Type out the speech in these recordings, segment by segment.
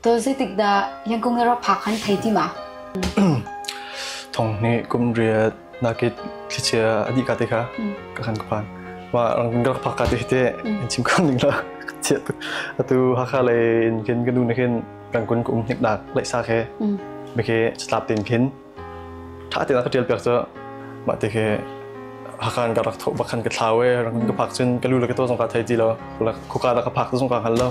Taw zeitikdah Yangkung na rak phak han thei ti ma? Thong nih kum riat nakit thlichia adi ka te kha ka kan ka phan. Wa rang ka phak ka te te in chim kon ning la chia tu atu hakha lei in kin ka nu na kin rang kun kum hnip nak lai sa ke me ke chatlap tin kin tha te la ka tial pek cho ma te ke hakan ka rak tho bakhan ka thlawe rang ka phak chin ka lu la ka to zong ka thai ti lo la khuka la ka phak to zong ka hal lo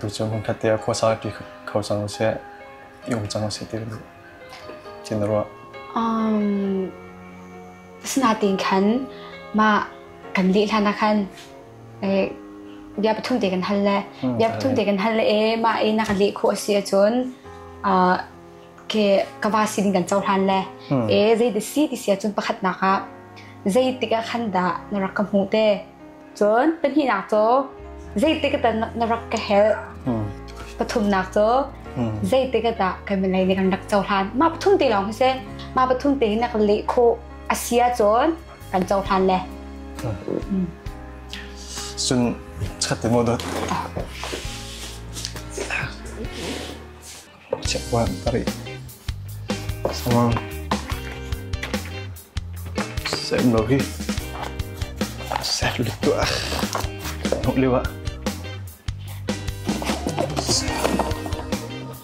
Tucu hmunkhat te ah khuasa ṭi kho cang usih, i um cang usih ti tin na ruah? Asinain khan mah kan lih hlan ah khan bia pathum te kan hal le bia pathum te kan hal le mah i na ka leh khawh a si ahcun ka va sin in kan cohlan le zei da si ti si ahcun pakhatnak ah zeitik ah khan dah na rak ka hmuh te? Cun pahnihnak cu zeitik dah na rak ka helh? Pathumnak cu zeitik dah kan milei nih kan rak cohlan? Mah pathum te lawng si mah pathum te na kan leh khawh a si ahcun kan cohlan le. Cun chat ti maw dawt? chiakuan ka rih. Sem lo hi. Ser lu tuah. Nuk liu ah.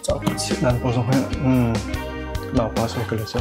Cak chit nan ko zong he. Hmm. Lau pa sai ka le sa.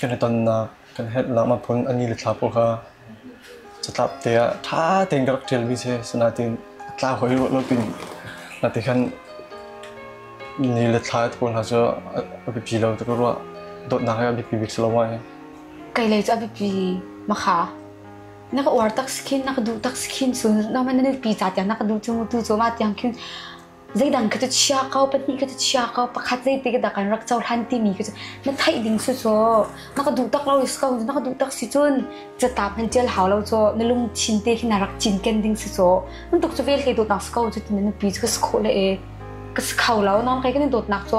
kan i tonnak kan herhnak maphun a ni le thla pawl kha catlap te ah ṭha tein ka rak ṭialmi si asinain a tla hoi ruah lo tin na ti khan ni le thla pawl hna cu a biapi lo ta ka ruah dawtnak hi a biapi bik si lo mai kei lei cu a biapi makha na ka uar tak sikhin na ka duh tak sikhin sun na man na pi ca tiang na ka duh chung tu cu ma tiang khin Zeidang kha cu chia ko, pahnih kha cu chia ko, pakhat zeiti ka dah kan rak cohlan timi kha cu na theih ding su cu. Na ka duh tak lo si ko, na ka duh tak si cun catap nan tial hau lo cu. Na lungthin te khi na rak cinken ding si cu. Nan tuk cu vel hlei dawtnak si ko cu tina nupi cu ka si khawh le e. Ka si kho lo, nain kai kan i dawtnak cu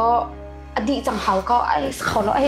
a dih cang hau ko, ai si kho lo, ai.